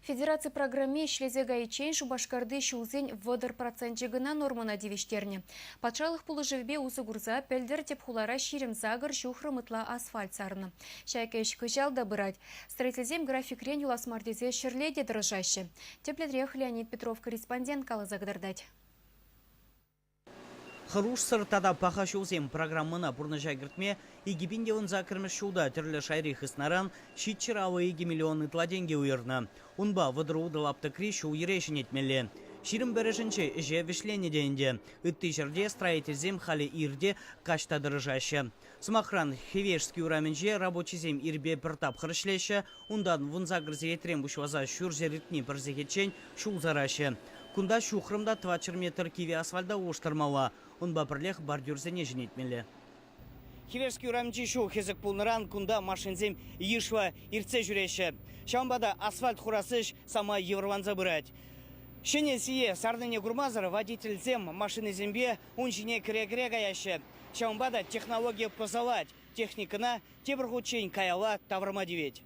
Федераци программи ӗҫлесе кайиччен Шупашкарти ҫулсен вӑтӑр проценчӗ кӑна нормӑна тивӗҫтернӗ. Патшалӑх пулӑшӑвӗпе усӑ курса пӗлтӗр тӗп хулара ҫирӗм-сакӑр ҫухрӑм ытла асфальт сарнӑ. Ҫак ӗҫ кӑҫал та пырать. Строительсем графикрен юлас мар тесе ҫӗрле те тӑрӑшаҫҫӗ. Тӗплӗнрех Леонид Петров корреспондент каласа кӑтартать. Хӑрушсӑр тата паха ҫулсем программӑна пурнӑҫа кӗртме икӗ пин те ун саккӑрмӗш ҫулта тӗрлӗ шайри хыснаран ҫиччӗр авӑ икӗ миллион ытла тенкӗ уйӑрнӑ. Унпа вӑтӑр-утӑ лаптӑкри ҫул-йӗре ҫӗнетмелле. Ҫирӗм пӗрӗшӗнче ӗҫе вӗҫленӗ те ӗнтӗ. Ытти ҫӗрте строительсем халӗ ир те, каҫ та тӑрӑшаҫҫӗ. Сӑмахран, Хивешский урамӗнче рабочисем ирпе пӗр тапхӑр ӗҫлеҫҫӗ, унтан вунса кӗрсе етрен пуҫласа ҫурҫӗр иртни пӗр сехетчен ҫул сараҫҫӗ. Кунта ҫухрӑм та тӑватҫӗр метр кивӗ асфальта улӑштармалла, унпа пӗрлех бордюрсене ҫӗнетмелле. Хивешский урамӗнчи ҫул хӗсӗк пулнӑран кунта машинсем йышлӑ иртсе ҫӳреҫҫӗ. Ҫавӑнпа та асфальт хурас ӗҫ самай йывӑрланса пырать. Ҫӗнӗ сие сарнине курмасӑр водительсем машинӑсемпе ун ҫине кӗре-кӗре каяҫҫӗ. Ҫавӑнпа та технологи пӑсӑлать, техникӑна тепӗр хутчен каялла тавӑрма тивет.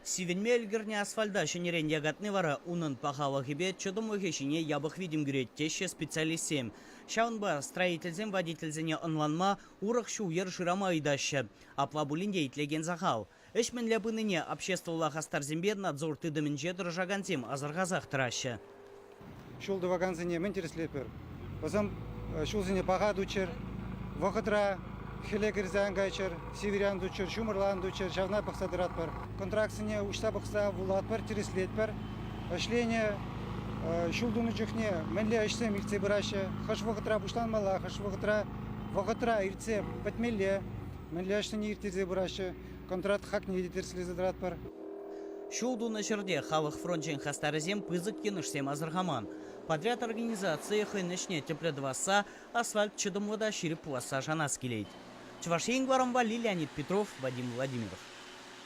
Сивӗнме ӗлкӗрнӗ асфальта ҫӗнӗрен якатни вара унӑн пахалӑхӗпе чӑтӑмлӑхӗ ҫине япӑх витӗм кӳрет, теҫҫӗ специалистсем. Ҫавӑнпа строительсем водительсене ӑнланма, урӑх ҫул-йӗр шырама ыйтаҫҫӗ. Апла пулин те итлекен сахал. Ӗҫ мӗнле пынине обществӑлла хастарсемпе надзор тытӑмӗнче тӑрӑшакансем асӑрхасах тӑраҫҫӗ. Ҫул тӑвакансене мӗн тӗрӗслетпӗр? Вӑсем ҫулсене паха туччӑр, вӑхӑтра хӗле кӗрсе ан кайччӑр, сивӗре ан туччӑр, ҫумӑрла ан туччӑр, ҫавна пӑхса тӑратпӑр. Контрактсене уҫса пӑхса вулатпӑр, тӗрӗслетпӗр. Ӗҫленӗ ҫул тунӑ чухне мӗнле ӗҫсем иртсе пыраҫҫӗ, хӑш вӑхӑтра пуҫланмалла, хӑш вӑхӑтра вӑхӑтра иртсе пӗтмелле, Мӗнле ӗҫсене ирттерсе пыраҫҫӗ, контракт хакне те тӗрӗслесе тӑратпӑр. Ҫул тунӑ ҫӗрте халӑх фрончӗн хастарӗсем пысӑк йӑнӑшсем асӑрхаман. Подряд организацийӗ хӑйӗн ӗҫне тӗплӗ тӑвасса, асфальт чӑтӑмлӑ та ҫирӗп пуласса шанас килет. Чӑваш Ен кӑларӑмпа Лилианит Петров, Вадим Владимиров.